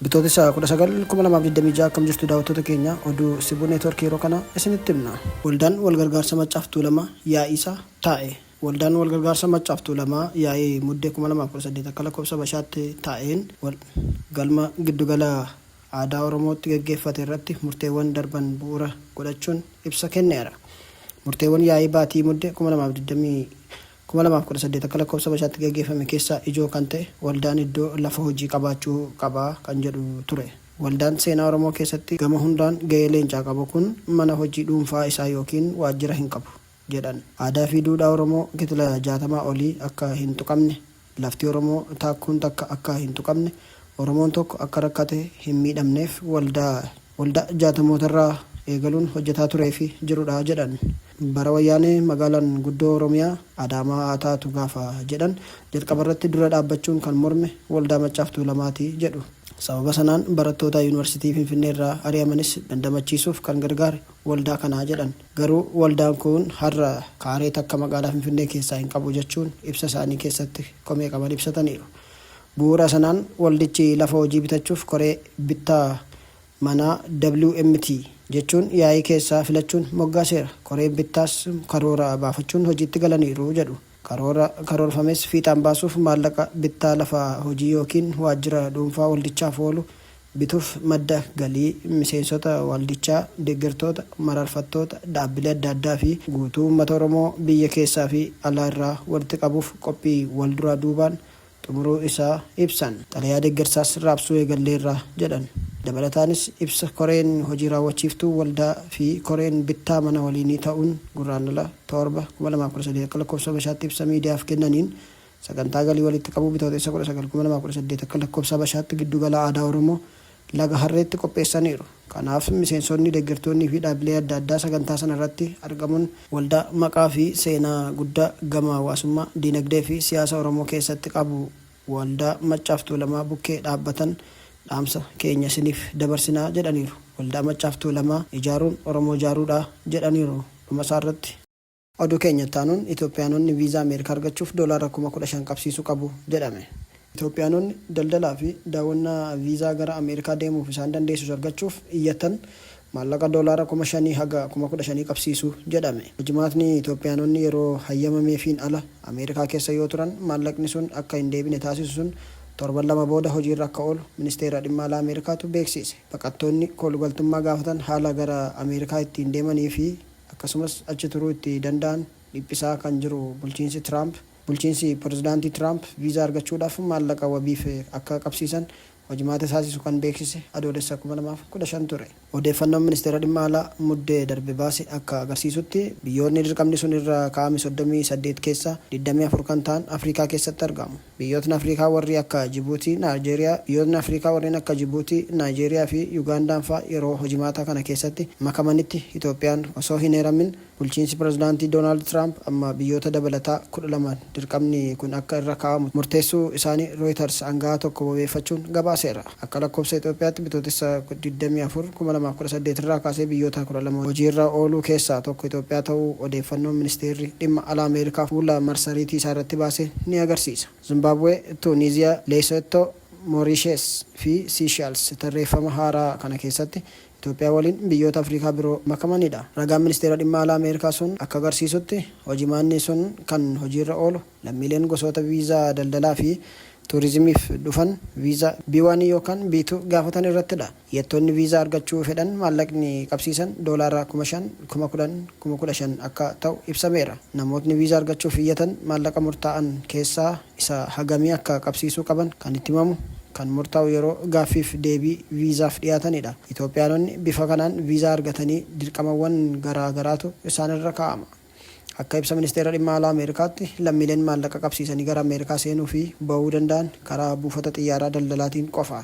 Bitootessa 19,2026 akkam jirtu daawwattoota keenya oduu Sibuu Neetwoorkii yeroo kana isinitti himna. Waldaan walgargaarsa Maccaaf Tuulamaa yaa'iisaa taa'e. Waldaan walgargaarsa Maccaaf Tuulamaa yaa'ii Muddee 2018 akka lakkoofsa Habashaatti taa'een galma giddugala aadaa Oromootti gaggeeffate irratti murteewwan darban bu'uura godhachuun ibsa kenneera. Murteewwan yaa'ii baatii Mudde 2018 akka lakkoofsa Habashaatti gaggeeffame keessaa ijoo kan ta'e waldaan iddoo lafa hojii qabaachuu qaba kan jedhu ture. Waldaan seenaa Oromoo keessatti gama hundaan gahee leencaa qabu kun mana hojii dhuunfaa isaa ykn waajjira hin qabu. jedhan. Aadaa fi duudhaa Oromoo kitila 60 olii akka hin tuqamne, lafti Oromoo taakkuun takka akka hin tuqamne, Oromoon tokko akka rakkate hin miidhamneef waldaa waldaa jaatamootarraa eegaluun hojjetaa turee fi jirudha jedhan. Bara Wayyaanee magaalaan guddoo Oromiyaa Adaamaa haa taatu gaafa jedhan jalqabarratti dura dhaabbachuun kan morme Waldaa Maccaaf Tuulamaati jedhu. Sababa sanaan barattoota Yuunivarsiitii Finfinneerraa ari'amanis dandamachiisuuf kan gargaare waldaa kana jedhan. Garuu waldaan kun har'a kaaree takka magaalaa Finfinnee keessaa hin qabu jechuun ibsa isaanii keessatti komee qaban ibsataniiru. Bu'uura sanaan waldichi lafa hojii bitachuuf koree bittaa manaa WMT jechuun yaa'ii keessaa filachuun moggaaseera. Koreen bittaas karoora baafachuun hojiitti galaniiru jedhu. Karoora karoorfames fiixaan baasuuf maallaqa bittaa lafa hojii ykn waajjira dhuunfaa waldichaaf oolu bituuf madda galii miseensota waldichaa, deeggartoota, mararfattoota, dhaabbilee adda addaa fi guutuu uummata Oromoo biyya keessaa fi alaa irraa walitti qabuuf qophii walduraa duubaan xumuruu isaa ibsan. Xalayaa deeggarsaas raabsuu eegalleerra jedhan. Dabalataanis ibsa koreen hojii raawwachiiftuu waldaa fi koreen bittaa mana waliinii ta'uun Gurraandhala 7, 2013 akka lakkoofsa Habashaatti ibsa miidiyaaf kennaniin, sagantaa galii walitti qabuu Bitootessa 19, 2018 akka lakkoofsa Habashaatti Giddu Gala Aadaa Oromoo Laga Harreetti qopheessaniiru. Kanaaf miseensonni, deggertoonnii fi dhaabbilee adda addaa sagantaa sana irratti argamuun waldaa maqaa fi seenaa guddaa gama hawaasummaa, diinagdee fi siyaasa Oromoo keessatti qabu Waldaa Maccaaf Tuulamaa bukkee dhaabbatan dhaamsa keenya isiniif dabarsina jedhaniiru. Waldaa Maccaaf Tuulamaa ijaaruun Oromoo ijaaruudha jedhaniiru dhumasaarratti. Oduu keenya itti aanuun Itoophiyaanonni viizaa Ameerikaa argachuuf doolaara kuma 15 qabsiisuu qabu jedhame. Itoophiyaanonni daldalaa fi daawwannaa viizaa gara Ameerikaa deemuuf isaan dandeessisu argachuuf iyyatan maallaqa doolaara kuma 5 haga kuma 15 qabsiisu jedhame. Jimaatni Itoophiyaanonni yeroo hayyamameefiin ala Ameerikaa keessa yoo turan maallaqni sun akka hin deebine taasisu sun torban lama booda hojiirra akka oolu Ministeera Dhimma Alaa Ameerikaatu beeksiise. Baqattoonni koolugaltummaa gaafatan haala gara Ameerikaa ittiin deemanii fi akkasumas achi turuu itti danda'an dhiphisaa kan jiru bulchiinsi Tiraamp, bulchiinsi Pirezidaantii Tiraamp viizaa argachuudhaaf maallaqa wabiif akka qabsiisan hojimaata taasisu kan beeksise Adoolessa 2015 ture. Odeeffannoon Ministeera Dhimma Alaa Muddee darbe baase akka agarsiisutti, biyyoonni dirqamni sun irra kaa'ame 38 keessaa 24 kan ta'an Afrikaa keessatti argamu. Biyyootni Afriikaa warri akka Jibuutii, Naayjeeriyaa, Biyyootni Afriikaa warreen akka Jibuutii, Naayjeeriyaa fi Yugaandaan faa yeroo hojimaataa kana keessatti makamanitti Itoophiyaan osoo hin heeramin bulchiinsi Pirezidaantii Doonaald Tiraamp amma biyyoota dabalataa 12 dirqamni kun akka irra kaa'amu murteessuu isaanii Rooyitars anga'aa tokko wabeeffachuun gabaaseera. Akka lakkoofsa Itoophiyaatti Bitootessa 24, 2018 irraa kaasee biyyoota 12 hojii irra ooluu keessaa tokko Itoophiyaa ta'uu odeeffannoon Ministeerri Dhimma Alaa Ameerikaa fuula marsariitii isaa irratti baase ni agarsiisa. Zimbaabwee, Tuuniiziyaa, Leesottoo, Mooriishees fi Siishals tarreeffama haaraa kana keessatti Itoophiyaa waliin biyyoota Afrikaa biroo makamanidha. Ragaan Ministeera Dhimma Alaa Ameerikaa sun akka agarsiisutti, hojimaanni sun kan hojiirra oolu lammiileen gosoota viizaa daldalaa fi tuurizimiif dhufan viizaa B-1 yookaan B-2 gaafatan irrattidha. Iyyattoonni viizaa argachuu fedhan maallaqni qabsiisan doolaara 5,000, 10,000, 15,000 akka ta'u ibsameera. Namootni viizaa argachuuf iyyatan maallaqa murtaa'an keessaa isa hagamii akka qabsiisuu qaban kan itti himamu, kan murtaa'u yeroo gaaffiif deebii viizaaf dhiyaatanidha. Itoophiyaanonni bifa kanaan viizaa argatanii dirqamawwan garaa garaatu isaan irra kaa'ama. Akka ibsa Ministeera Dhimma Alaa Ameerikaatti, lammiileen maallaqa qabsiisanii gara Ameerikaa seenuu fi ba'uu danda'an karaa buufata xiyyaaraa daldalaatiin qofa.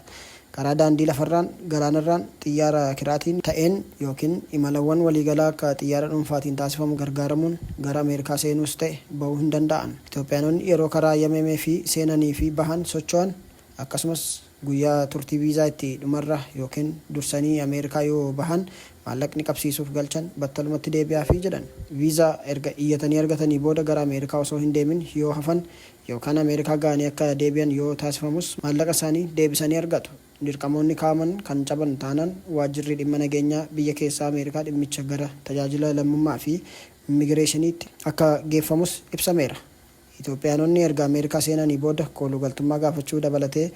Karaa daandii lafarraan, galaanarraan, xiyyaara kiraatiin ta'een ykn imalawwan waliigalaa akka xiyyaara dhuunfaatiin taasifamu gargaaramuun gara Ameerikaa seenuus ta'e ba'uu hin danda'an. Itoophiyaanonni yeroo karaa Yameme fi seenanii fi bahan, socho'an, akkasumas guyyaa turtii viizaa itti dhumarra ykn dursanii Ameerikaa yoo bahan maallaqni qabsiisuuf galchan battalumatti deebi'aafii jedhan. Viizaa erga iyyatanii argatanii booda gara Ameerikaa osoo hin deemin yoo hafan yookaan Ameerikaa gahanii akka deebi'an yoo taasifamus maallaqa isaanii deebisanii argatu. Dirqamoonni kaa'aman kan caban taanaan waajjirri dhimma nageenyaa biyya keessaa Ameerikaa dhimmicha gara tajaajila lammummaa fi immigireeshiniitti akka geeffamus ibsameera. Itoophiyaanonni erga Ameerikaa seenanii booda koolugaltummaa gaafachuu dabalatee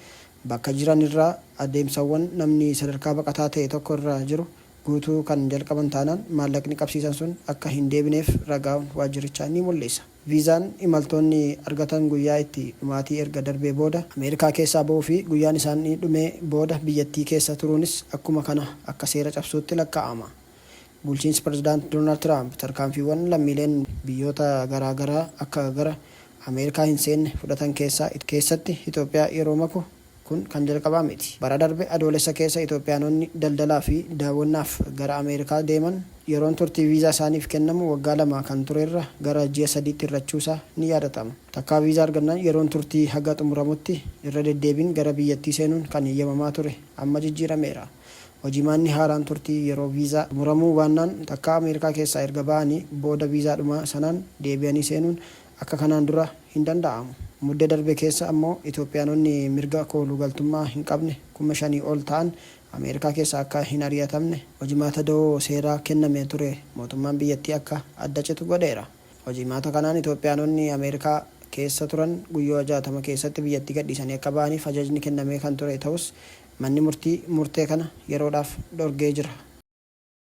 bakka jiran irraa adeemsawwan namni sadarkaa baqataa ta'e tokko irra jiru guutuu kan jalqaban taanaan maallaqni qabsiisan sun akka hin deebineef ragaawwan waajjirichaa ni mul'isa. Viizaan imaltoonni argatan guyyaa itti dhumaatii erga darbee booda Ameerikaa keessaa bahuu fi guyyaan isaanii dhumee booda biyyattii keessa turuunis akkuma kana akka seera cabsuutti lakkaa'ama. Bulchiinsi Pirezidaant Doonaald Tiraamp tarkaanfiiwwan lammiileen biyyoota garaa garaa akka gara Ameerikaa hin seenne fudhatan keessaa keessatti Itoophiyaa yeroo maku, Kun kan jalqabaa miti. Bara darbe Adoolessa keessa Itoophiyaanonni daldalaa fi daawwannaaf gara Ameerikaa deeman yeroon turtii viizaa isaaniif kennamu waggaa lama kan ture irra gara ji'a sadiitti hir'achuu isaa ni yaadatama. Takkaa viizaa argannaan yeroon turtii haga xumuramutti irra deddeebiin gara biyyattii seenuun kan heyyamamaa ture amma jijjiirameera. Hojimaanni haaraan turtii yeroo viizaa xumuramuu baannaan takkaa Ameerikaa keessaa erga ba'anii booda viizaadhuma sanaan deebi'anii seenuun akka kanaan dura hin danda'amu. Mudde darbe keessa ammoo Itoophiyaanonni mirga koolu galtummaa hin qabne kuma shanii ol ta'an Ameerikaa keessaa akka hin ari'atamne hojimaata dawoo seeraa kennamee ture mootummaan biyyattii akka adda citu godheera. Hojimaata kanaan Itoophiyaanonni Ameerikaa keessa turan guyyooa 60 keessatti biyyattii gadhiisanii akka ba'aniif ajajni kennamee kan ture ta'us manni murtii murtee kana yeroodhaaf dhorgee jira.